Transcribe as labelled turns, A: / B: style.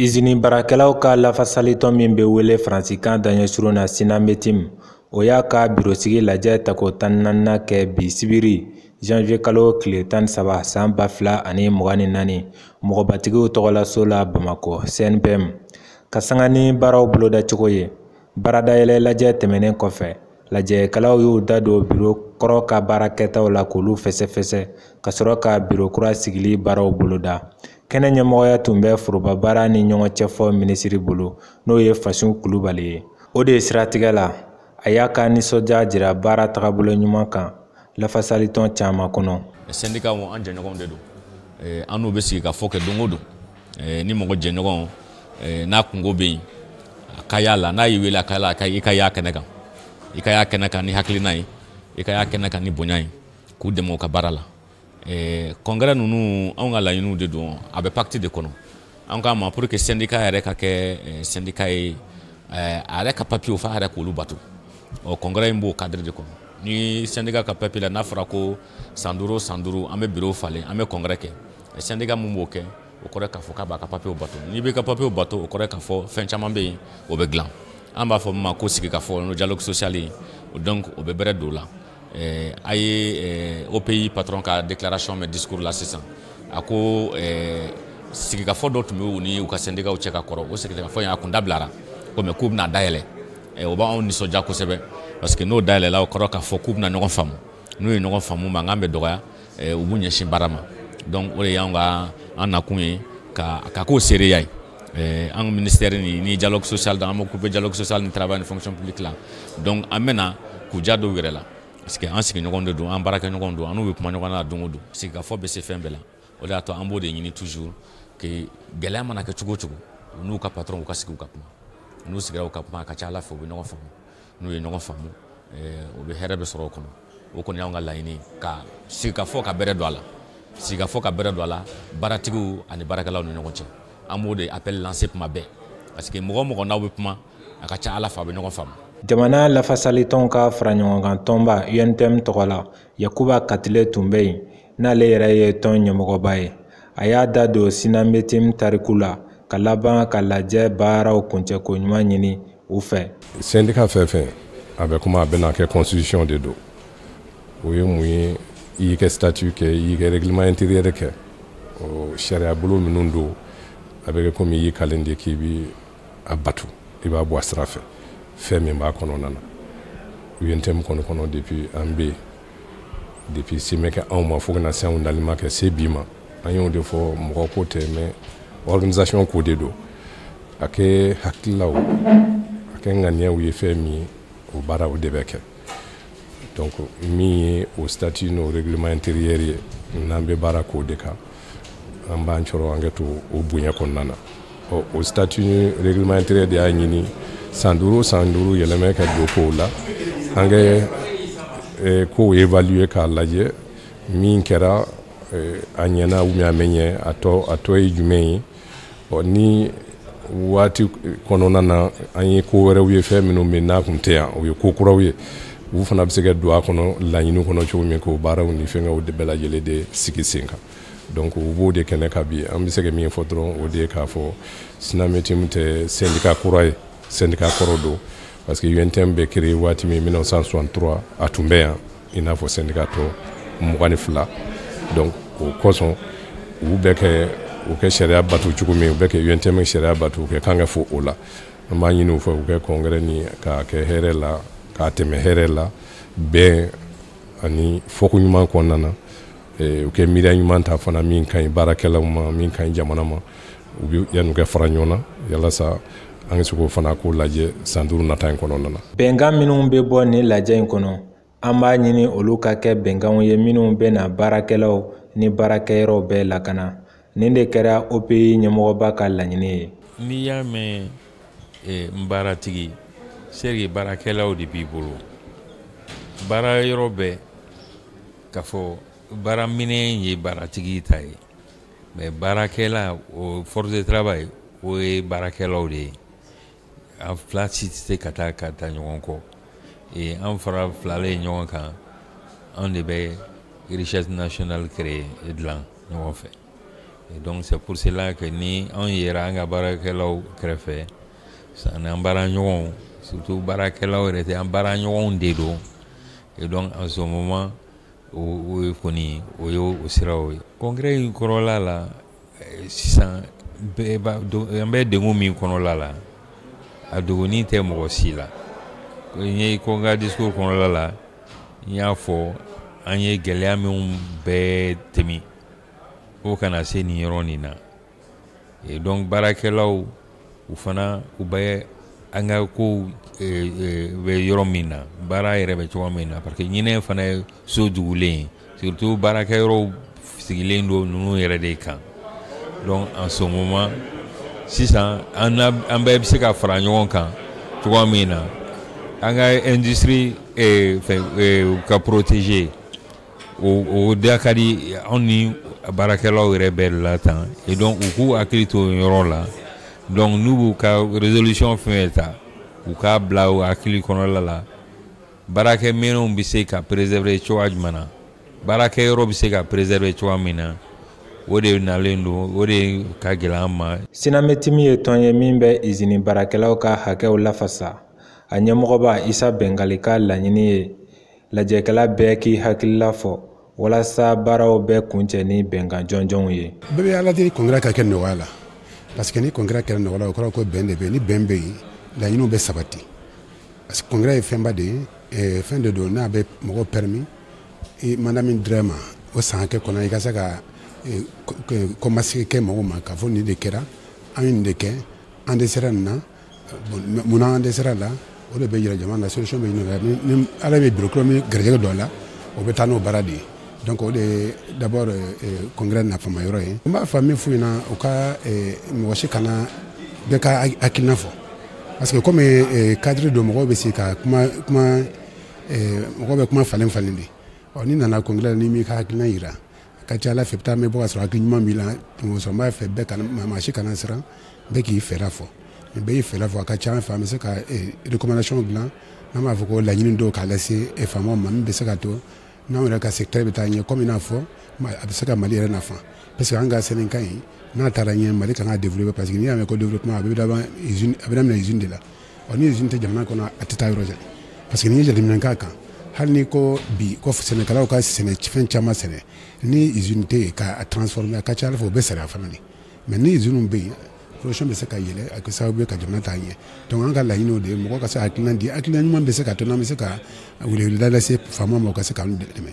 A: Izini baarakɛlaw ka lafasalitɔn min bɛ wele Faransikan daɲɛsurun na Sinametiim, o y'a ka birosigi lajɛ tako tan ni naaninan kɛ bi sibiri janvier kalo tile tan ni saba san ba fila ani mugan ni naani, mɔgɔbatigiw tɔgɔlaso la Bamakɔ, CNPM, ka sanga ni baaraw bolodacogo ye. Baaradayɛlɛ lajɛ tɛmɛnen kɔfɛ lajɛkɛlaw y'u da don biro kɔrɔ ka baara kɛtaw la k'olu fɛsɛfɛsɛ ka sɔrɔ ka biro kura sigili baaraw boloda kɛnɛ ɲɛmɔgɔya tun bɛ forobabaara ni ɲɔgɔn cɛ fɔ minisiri bolo n'o ye Fasun Kulubali ye o de siratigɛ la a y'a ka nisɔndiya jira baara tagabolo ɲuman kan lafasalitɔn caman kɔnɔ sɛndikaw
B: an jɛɲɔgɔnw de don eh, an n'u bɛ sigi ka fɔ kɛ don o don eh, ni mɔgɔ jɛɲɔgɔn eh, n'a kunko bɛ yen a ka y'a la n'a y'i wele a ka la i ka y'a kɛnɛ kan i ka y'a kɛnɛ kan ni hakilina ye i ka y'a kɛnɛ kan ni bonya ye k'u dɛmɛ u ka baara la congrès ninnu anw ka laɲiniw de don a bɛ pacte de kɔnɔ an k'a ma pour que sendika yɛrɛ ka kɛ sendika eh, ye eh, a yɛrɛ ka papiyew f'a yɛrɛ k'olu bato ɔ congrès in b'o kadiri de kɔnɔ ni sendika ka papiye la n'a fɔra ko san duuru o san duuru an bɛ biro falen an bɛ congrès kɛ eh, sendika min b'o kɛ o kɔrɔ k'a fɔ k'a b'a ka papiyew bato n'i b'i ka papiyew bato o kɔrɔ k'a fɔ fɛn caman bɛ yen o bɛ dilan an b'a fɔ min ma ko sigikafɔ n'o dialogue social ye donc o bɛ bɛrɛ don o la Eh, a ye eh, OPI patron ka déclaration mɛn discours la sisan a ko eh, sigikafɔ dɔ tun bɛ u ni u ka sɛndikaw cɛ ka kɔrɔ o sigikafɔ in a kun dabilara ko mais k'u bɛna dayɛlɛ o b'anw nisɔndiya kosɛbɛ parce que n'o dayɛlɛla o kɔrɔ k'a fɔ k'u bɛna ɲɔgɔn faamu n'u ye ɲɔgɔn faamu mankan bɛ dɔgɔya u b'u ɲɛsin baara ma donc o de y'anw ka an nakun ye ka ka k'o seereya ye Eh, an ministère ni ni dialogue social dan an bɛ occuper dialogue social ni travail ni fonction publique la donc an bɛna k'u ja dɔw yɛrɛ la parce que an sigiɲɔgɔn de don an baarakɛɲɔgɔn don an n'u bɛ kuma ɲɔgɔn na don o don sigikafɔ bɛ se fɛn bɛɛ la o de y'a to an b'o de ɲini toujours que gɛlɛya mana kɛ cogo o cogo u n'u ka patron u ka sigi u ka kuma n'u sigira u ka kuma a ka ca a la fɛ u bɛ ɲɔgɔn faamu n'u ye ɲɔgɔn faamu o bɛ hɛrɛ bɛ sɔrɔ o kɔnɔ o kɔni y'anw ka laɲini ka sigikafɔ ka bɛrɛ don a la sigikafɔ ka bɛrɛ don a la baaratigiw ani baarakɛlaw ni ɲɔgɔn cɛ an b'o de appel lancer tuma bɛɛ parce que mɔgɔ o mɔgɔ n'aw bɛ kuma a ka ca a la fɛ a bɛ ɲɔgɔn faamu jamana
A: lafasalitɔnw ka faraɲɔgɔnkan tɔnba UNTM tɔgɔ la Yakuba Katile tun bɛ yen n'ale yɛrɛ ye tɔn ɲɛmɔgɔba ye. A y'a da don Sinametim tariku la ka laban ka lajɛ baaraw kuncɛko ɲuman ɲini u fɛ. Sɛndika fɛn fɛn
C: a bɛ kuma a bɛna kɛ constitution de don. O ye mun ye? I y'i ka statut kɛ, i y'i ka règlement intérieur kɛ, o sariyabolo minnu don, a bɛ kɛ komi i y'i kalen de k'i bi a batu i b'a bɔ a sira fɛ fɛn min b'a kɔnɔna na UNTM kɔni kɔnɔ depuis an bɛ depuis se mɛ kɛ anw ma fo ka na se anw dali ma kɛ se bi ma an y'o de fɔ mɔgɔ ko tɛ mais organisation ko de don a kɛ hakililaw a kɛ ŋaniyaw ye fɛn min ye o baaraw de bɛ kɛ donc min ye o statut n'o règlement intérieur ye n'an bɛ baara k'o de kan an b'an cɔrɔ an ka to o bonya kɔnɔna na ɔ o statut ni règlement intérieur de y'a ɲini san duuru san duuru yɛlɛmɛ ka don kow la an ka eh, kow évaluer k'a lajɛ min kɛra eh, a ɲɛna ou bien a mɛ ɲɛ a tɔ a tɔ ye jumɛn ye ɔ ni waati kɔnɔna na an ye ko wɛrɛw ye fɛn minnu bɛ n'a tun tɛ yan o ye ko kuraw ye u fana bɛ se ka don a kɔnɔ laɲini kɔnɔ cogo min k'o baaraw ni fɛnkɛw de bɛɛ lajɛlen de sigi sen kan donc u b'o de kɛnɛ kan bi an bɛ se ka min fɔ dɔrɔn o de ye k'a fɔ sinametimu tɛ sendika kura ye sendika kɔrɔ don parce que UNTM bɛ créer waati min 1963 a tun bɛ yan i n'a fɔ sendika tɔ mugan ni fila donc o kosɔn u bɛ kɛ u kɛ sariya bato cogo min u bɛ kɛ UNTM sariya bato u kɛ kan ka fo o la an b'a ɲini u fɛ u kɛ congrès nin k'a kɛ hɛrɛ la k'a tɛmɛ hɛrɛ la bɛn ani fɔko ɲuman kɔnɔna na u kɛ miiriya ɲuman ta fana min ka ɲi baarakɛlaw ma min ka ɲi jamana ma u bɛ yanni u kɛ fara ɲɔgɔn na yalasa an ka se k'o fana ko lajɛ san duuru nata in kɔnɔna na bɛnkan minnu bɛ
A: bɔ nin lajɛ in kɔnɔ An b'a ɲini olu ka kɛ bɛnkanw ye minnu bɛna baarakɛlaw ni baarakɛyɔrɔw bɛɛ lakana. Nin de kɛra OPI ɲɛmɔgɔba ka laɲini ye. N'i y'a mɛn
D: eh, n baaratigi, c'est vrai que baarakɛlaw de b'i bolo. Baarayɔrɔ bɛɛ, k'a fɔ baaraminɛn ye baaratigi ta ye, mais baarakɛla, o force de travail, o ye baarakɛlaw de ye. an fila si tɛ se ka taa ka taa ɲɔgɔn kɔ ee an fara filalen ɲɔgɔn kan anw de bɛ richesse nationale créer et dilan ɲɔgɔn fɛ et donc c'est pour cela que ni anw yera an ka baarakɛlaw kɛrɛfɛ ani an baara ɲɔgɔnw surtout baarakɛlaw yɛrɛ tɛ an baara ɲɔgɔnw de don et donc en ce moment o ye kɔni o ye o siraw ye congrès in kɔnɔla la eh, sisan an bɛ degun min kɔnɔla la a dogonin tɛ mɔgɔ si la n ye ko n ka discours kɔnɔla la n y'a fɔ an ye gɛlɛya minnu bɛɛ tɛmɛ o kana se nin yɔrɔ nin na donc baarakɛlaw u fana u bɛ an ka kow bɛ yɔrɔ min na baara yɛrɛ bɛ cogoya min na parce que ɲinan fana ye so dugulen surtout baarakɛyɔrɔw sigilen don ninnu yɛrɛ de kan donc en ce moment sisan an bɛɛ bɛ se ka fara ɲɔgɔn kan cogoya min na an ka industrie ka protéger o da ka di anw ni baarakɛlaw yɛrɛ bɛɛ de la tan et donc u k'u hakili to yɔrɔ la donc n'u b'u ka résolution fɛn ta u k'a bila u hakili kɔnɔla la baarakɛminɛnw bɛ se ka préserver cogoya jumɛn na baarakɛyɔrɔ bɛ se ka préserver cogoya min na o de nalen don o de ka gɛlɛn an ma. sinamɛtimi ye tɔn
A: ye min bɛ izini baarakɛlaw ka hakɛw lafasa a ɲɛmɔgɔba isa bɛngali ka laɲini ye lajɛkɛla bɛɛ k'i hakilila fɔ walasa baaraw bɛɛ kuncɛ ni bɛnkan jɔnjɔnw ye bɛɛ bɛ ala deli
E: congrès ka kɛ nɔgɔya la parce que ni congrès kɛra nɔgɔya la o kɔrɔ ko bɛn de bɛ yen ni bɛn bɛ yen laɲiniw bɛ sabati parce que congrès ye fɛnba de ye eh, fɛn de don n'a bɛ mɔgɔw permis mandat min dir'e ma o san hakɛ kɔnɔ i ka se ka eh, kɔmasegin kɛ mɔgɔw ma k'a fɔ nin de kɛra an ye nin de kɛ an dɛsɛra nin na munna an dɛsɛra a la o de bɛ jira jama la solution bɛ ɲini o la ni ala bɛ bureau kura min garijɛgɛ don a la o bɛ taa n'o baara de ye donc o de ye d'abord congrès nafama yɔrɔ ye n b'a fɔ min f'u ɲɛna u ka mɔgɔ si kana bɛɛ ka hakilina fɔ parce que comme cadre don mɔgɔw bɛ se ka kuma kuma mɔgɔw bɛ kuma falen falen de ɔ n'i nana congrès la n'i m'i ka hakilina jira a ka ca a la fɛ i bɛ taa mɛn bɔ ka sɔrɔ hakili ɲuman b'i la donc n b'a fɛ bɛɛ kana maa si kana siran bɛɛ k'i fɛɛrɛ fɔ ni bɛɛ y'i fɛɛrɛ fɔ a ka ca fɛ an bɛ se ka rekomandasiɔn dilan n'an b'a fɔ ko laɲini dɔw k'a lase faamaw ma min bɛ se ka to n'anw yɛrɛ ka secteur bɛ taa ɲɛ kɔmi i n'a fɔ a bɛ se ka mali yɛrɛ nafa parce que an ka syndicat in n'a taara ɲɛ mali ka kan ka développer parce que n'i y'a mɛn ko développement a bɛ daminɛ usine de la ɔ ni izini tɛ jamana kɔnɔ a tɛ taa yɔrɔ jan parce que n'i ye jateminɛ k'a kan hali n'i ko bi ko sɛnɛkɛlaw ka sɛnɛ fɛn caman sɛnɛ ni izini tɛ yen k'a transformer a ka ca a la fɛ o bɛ sariya fana de mais ni iziniw bɛ yen production bɛ se ka yɛlɛn a kɛ sababu ye ka jamana taa ɲɛ donc an ka laɲini o de ye mɔgɔ ka se ka hakilina di hakilina ɲuman bɛ se ka to n'an bɛ se ka weleweleda lase faamaw ma u ka se k'an dɛmɛ